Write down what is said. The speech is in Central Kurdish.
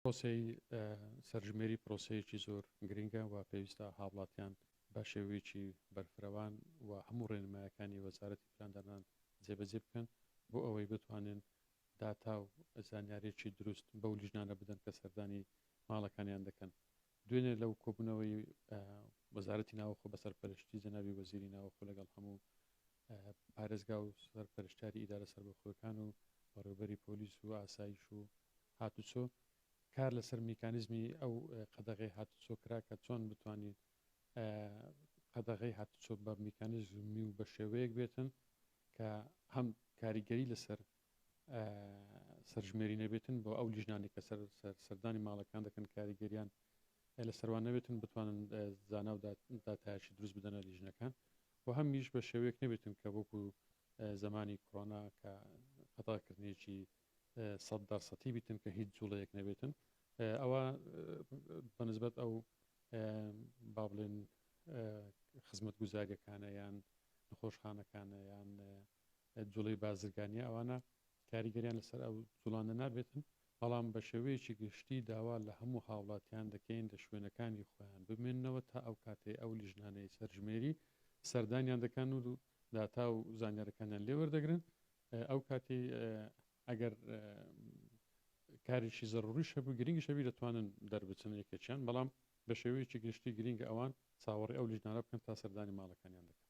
پرۆسەی سەرژمێری پرۆسەیەکی زۆر گرنگە و پێویستە هاوڵاتیان بە شێوەیەکی بەرفرەوان و هەموو ڕێنمایەکانی وەزارەتی پلاندانان جێبەجێ بکەن بۆ ئەوەی بتوانن داتا و زانیاریی دروست بەو لیژنانە بدەن کە سەردانی ماڵەکانیان دەکەن دوێنێ لەو کۆبوونەوەی وەزارەتی ناوخۆ بە سەرپەرشتی جەنابی وەزیری ناوخۆ لەگەڵ هەموو پارێزگا و سەرپەرشتاری ئیدارە سەربەخۆەکان و بەڕێوبەری پۆلیس و ئاسایش و هاتوچۆ کار لەسەر میکانیزمی ئەو قەدەغی هاتوچۆ کرا کە چۆن بتوانین قەدەغی هاتوچۆ بە میکانیزمی و بە شێوەیەک بێتن کە هەم کاریگەری لەسەر سەرژمێری نەبێتن بۆ ئەو لیژنانێک کە سەر سەردانی ماڵەکان دەکەن کاریگەریان لە سەروان نەبێتن بتوانن زانا و داتایشی دروست بدەنە لیژنەکان و هەمیش بە شێوەیەک نەبێتن کە وەکو زمانی کۆنا کە خەتاکردنیی سەد دەرسەتی بیتن کە هیچ جوڵەیەک نەبێتن ئەوە بەنسبەت ئەو با بڵێن خزمەت گوزاریەکانە یان نخۆشخانەکانە یان جوڵەی بازرگانیە ئەوانە کاریگەریان لەسەر ئەو جوڵانە نابێتن، بەڵام بە شێوەیەکی گشتی داوا لە هەموو هاوڵاتیان دەکەین لە شوێنەکانی خۆیان بمێننەوە تا ئەو کاتەی ئەو لیژنانەی سەرژمێری سەردانیان دەکەن و داتا و زانیارەکانیان لێ وەردەگرن ئەو کاتی ئەگەر کارێکی زەڕوری شەبوو گرنگی شەبی دەتوانن دەربچن یەکێکیان بەڵام بە شێوەیەکی گشتی گرنگ ئەوان چاوەڕی ئەو لیژنانە بکەن تا سەردانی ماڵەکانیان دەکەن